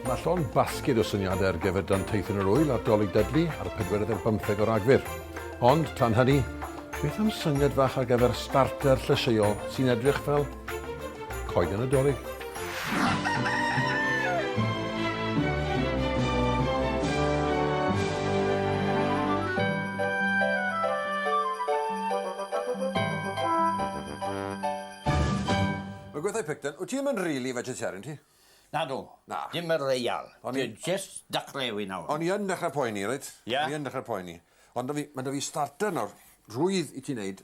Mae llond basged o syniadau ar gyfer Danteithon yr Ŵyl ar Dolig Dudley ar y pedwerydd ar bymtheg o Ragfyr. Ond, tan hynny, beth am syniad fach ar gyfer starter llysieuol sy'n edrych fel Coeden y Dolig. Mae gweithau picton. Wyt ti ddim yn really vegetarian ti? Na dw. Na. Dim y reial. Dwi just dechrau yw i nawr. O'n i yn dechrau poeni, reit? Ie? O'n i yn dechrau poeni. Ond da fi, mae da fi starter nawr, rwydd i ti wneud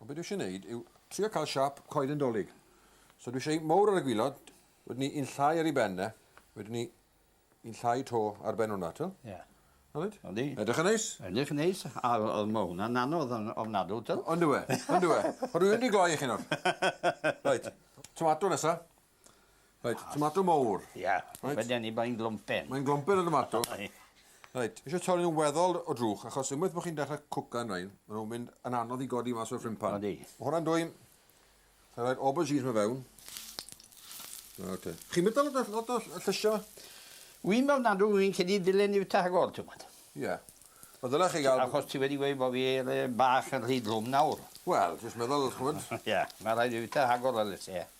Ond be dwi eisiau neud yw trio cael siâp coeden Dolig. So dwi eisiau un mowr ar y gwilod, wedyn ni un llai ar ei ben e, wedyn ni un llai to ar ben hwnna, t'o'? Ie. Na wyt? Yndi. Edrych yn neis? Edrych yn neis, a o- o'dd ma' hwnna'n anodd on- ofnadw t'o'? On'd yw e? On'd yw e? O dwi mynd i gloi i chi nawr. Reit. Tomato nesa. Reit, tomato mowr. Ia, Reit. fe deni bo'n glwmpen. Mae'n glwmpen y tomato. Reit, eisiau torri nhw'n weddol o drwch, achos unwaith bod chi'n dechrau cwcan rhain, maen nhw'n mynd yn anodd i godi mas o'r ffrimpan. Odi. Mae hwnna'n dwyn, Sa'n rhaid aubergines mae fewn. O, te. Chi'n mynd lot o, lot o llysio? Wy'n meddwl nad ydw i'n cedi dilyn i'w tagol, ti'n gwybod. Ie. Yeah. Wel, ddyla chi gael... Achos ti wedi gweud bod fi er, bach yn rhy glwm nawr. Wel, jyst meddwl, chwyd. Ie, mae rhaid i fi ta agor y lys, ie.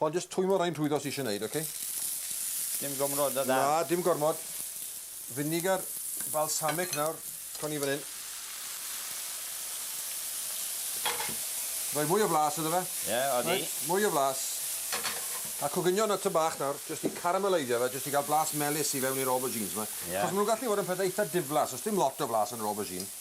Ond jyst twymo rhai'n rhwydd os eisiau wneud, oce? Dim gormod o dan? Na, dim gormod. Vinegar balsamic nawr, co ni fan hyn. Rhoi mwy o flas iddo fe. Ie, yeah, odi. Right, mwy o flas. A coginio na ty bach nawr, jyst i carameleiddio fe, jyst i gael blas melus i fewn i'r aubergines yma. Yeah. Chos maen nhw'n gallu bod yn pethau eitha diflas, os dim lot o flas yn yr aubergine.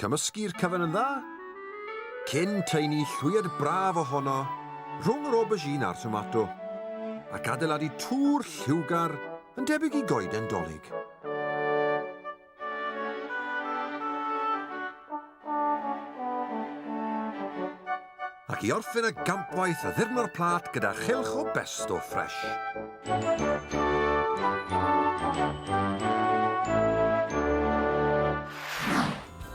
Cymysgu'r cyfan yn dda, cyn taenu llwyed braf ohono rhwng yr aubergine a'r tomato, ac adeiladu twr lliwgar yn debyg i goeden dolig. ac i orffen y gampwaith addurno'r plât gyda chylch o besto ffres.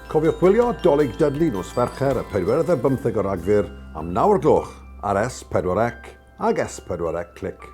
Cofiwch gwylio Dolig Dudley nos Fercher y 45 o Ragfyr am 9 o'r gloch ar S4C ag S4C Click.